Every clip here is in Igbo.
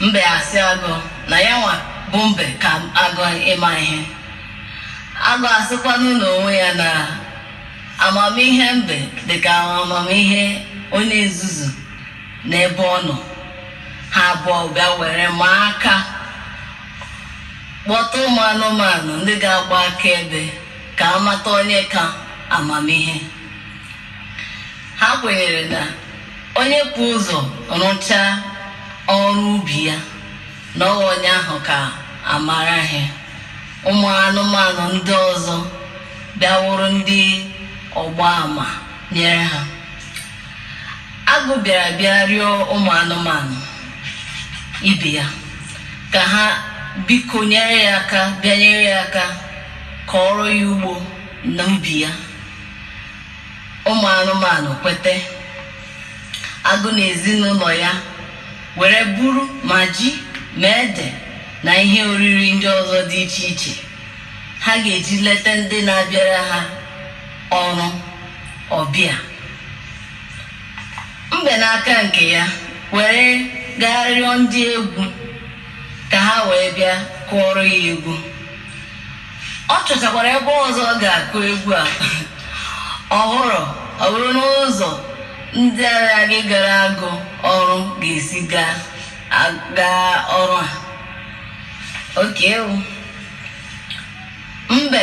Mbe asị agụ na ya nwa bụ mbe ka agụ ịma ihe. Agụ asịkwanụ n'onwe ya na amamihe mbe dị ka amamihe onye nzuzu n'ebe ọ nọ. Ha abụọ bịa were ma aka kpọta ụmụ anụmanụ ndị ga-agba akaebe ka a mata onye ka amamihe. Ha kwenyere na onye bu ụzọ rụchaa ọrụ ubi ya na ọ wụ onye ahụ ka amara ihe ụmụ anụmanụ ndị ọzọ bịa wụrụ ndị ọgba ama nyere ha agụ bịara bịa rịọ ụmụ anụmanụ ibe ya ka ha biko nyere ya aka bịa nyere ya aka kọọrọ ya ugbo na ubi ya ụmụ anụmanụ kwete agụ na ezinụlọ ya were buru ma ji ma ede na ihe oriri ndị ọzọ dị iche iche ha ga-eji leta ndị na-abịara ha ọrụ ọbịa mbe n'aka nke ya were gaa rịọ ndị egwu ka ha wee bịa kụọrọ ya egwu Ọ chọchakwara ebe ọzọ ọ ga-akụ egwu a ọ wụrụ ọ bụrụ n'ụzọ ndị ahụ ga-agara agụ ọrụ ga-esi gaa a- gaa ọrụ a oke mbe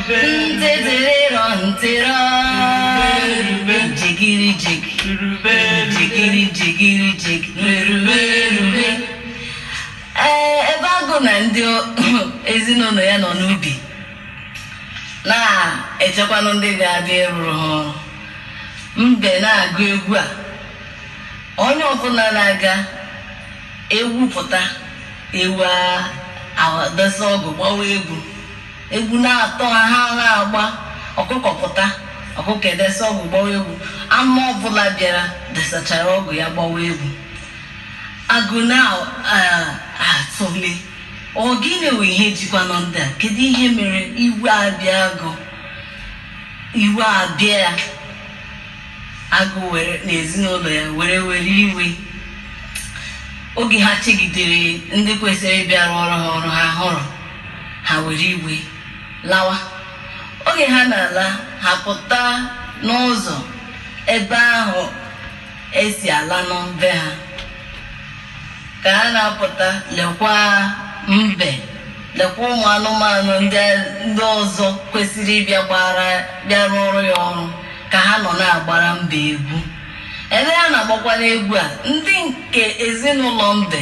Ntịtịrịrọ ntịrọ. Jigiri jig. Jigiri jigiri jig. Merube erube. Ee, ebe agụ na ndị ezinụlọ ya nọ n'ubi na-echekwanụ ndị ga-abịa ịrụrụ ha ọrụ. Mbe na-agụ egwu a. Onye ọbụla na-aga ewu pụta ewu a- adọsa ọgụ gbawa egwu Egwu na-atọ ha, ha na-agba. Ọkụkọ pụta, ọkụkọ edesa ọgụ gbawa egwu. Anụ ọbụla bịara desachara ọgụ ya gbawa egwu. Agụ na-atụle. Ọ gịnị wụ ihe jikwanụ ndị a? Kedu ihe mere iwe abịa agụ? Iwe abịa ya. Agụ were na ezinụlọ ya were were iwe. Oge ha chegidere ndị kwesịrị ịbịa rụọrọ ha ọrụ ha hụrụ ha were iwe lawa oge ha na-ala ha pụta n'ụzọ ebe ahụ esi ala n'be ha ka ha na-apụta lekwa mbe lekwa ụmụ anụmanụ ndị ọzọ kwesịrị ịbịa bịa rụọrọ ya ọrụ ka ha nọ na-agbara mbe egwu ebe ha na-agbakwara egwu a ndị nke ezinụlọ mbe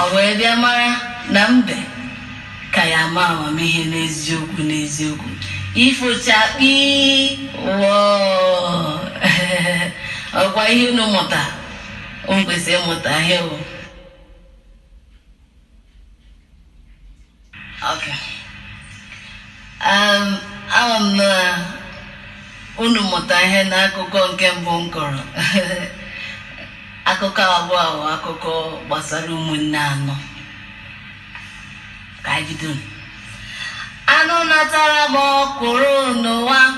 Ọ wee bịa mara na mbe ka ya ma amamihe n'eziokwu n'eziokwu ifo chakpii wọọ ọkwa ihe unu mụta o kwesịrị ịmụta ihe o Okay. Um, ama m na unu mụta ihe n'akụkọ nke mbụ m kọrọ akụkọ abụọ a bụ akụkọ gbasara ụmụnne anọ ka anyị bido anụ na-atara m ọkwụrụ n'ụwa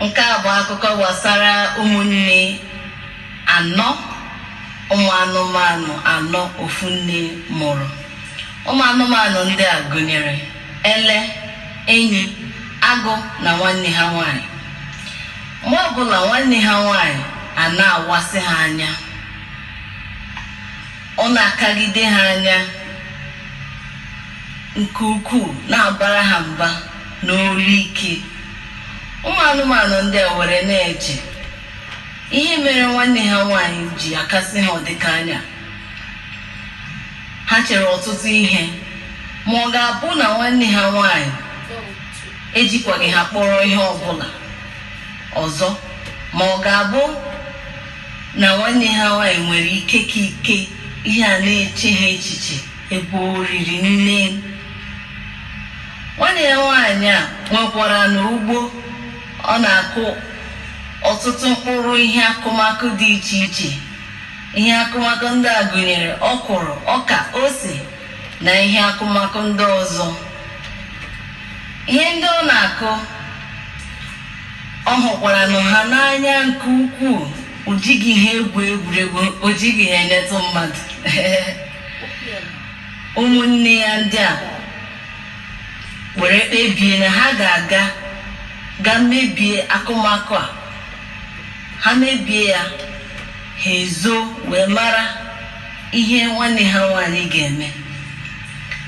Nke a bụ akụkọ gbasara ụmụnne anọ ụmụ anụmanụ anọ ofu nne mụrụ. Ụmụ anụmanụ ndị a gụnyere ele, enyi, agụ na nwanne ha nwaanyị. Mgbe ọbụla nwanne ha nwaanyị a na-awasị ha anya, ọ na-akagide ha anya nke ukwuu na-abara ha mba. n'olu ike ụmụ anụmanụ ndị a were na-eche ihe mere nwanne ha nwaanyị ji akasị ha ụdị ịka anya ha chere ọtụtụ ihe ma ọ ga-abụ na nwanne ha nwaanyị ejikwaghị ha kpọrọ ihe ọbụla ọzọ ma ọ ga-abụ na nwanne ha nwaanyị nwere ike ka ike ihe a na-eche ha echiche Ebe o riri nne. Nwanne ya nwaanyị a nwekwaranụ ugbo ọ na-akụ ọtụtụ mkpụrụ ihe akụmakụ dị iche iche. Ihe akụmakụ ndị a gụnyere ọkwụrụ, ọka, ose na ihe akụmakụ ndị ọzọ. Ihe ndị ọ na-akụ, ọ hụkwaranụ ha n'anya nke ukwuu. O jighị ha egwu egwuregwu, o jighị ha enyetụ mmadụ. ụmụnne ya ndị a were kpebie na ha ga-aga ga mebie akụmakụ a ha mebie ya ha ezo wee mara ihe nwanne ha nwaanyị ga-eme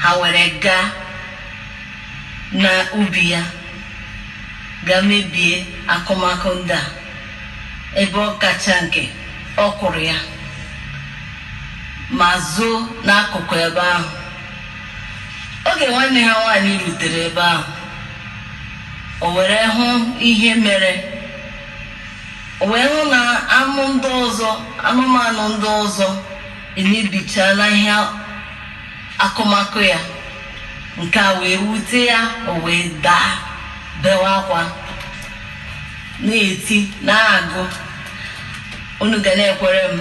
ha were gaa na ubi ya ga mebie akụmakụ ndị a ebe ọ kacha nke ọkwụrụ ya ma zoo n'akụkụ ebe ahụ. Oge nwanne ha nwaanyị rutere ebe ahụ, o were hụ ihe mere. O wee hụ na anụ ndị ọzọ, anụmanụ ndị ọzọ emebichaala ihe akụmakụ ya. Nke a wee wute ya, o wee daa, bewe akwa, na-eti, na-agụ, unu ga na-ekwere m.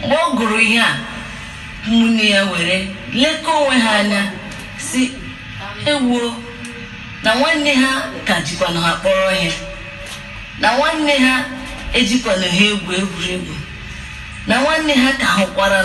Mgbe ọ gụrụ ihe a, ụmụnne ya were lekọọ onwe ha anya, sị, Ewuo, na nwanne ha ka jikwanụ ha kpọrọ ihe, na nwanne ha ejikwanụ ha egwu egwuregwu, na nwanne ha ka hụkwara.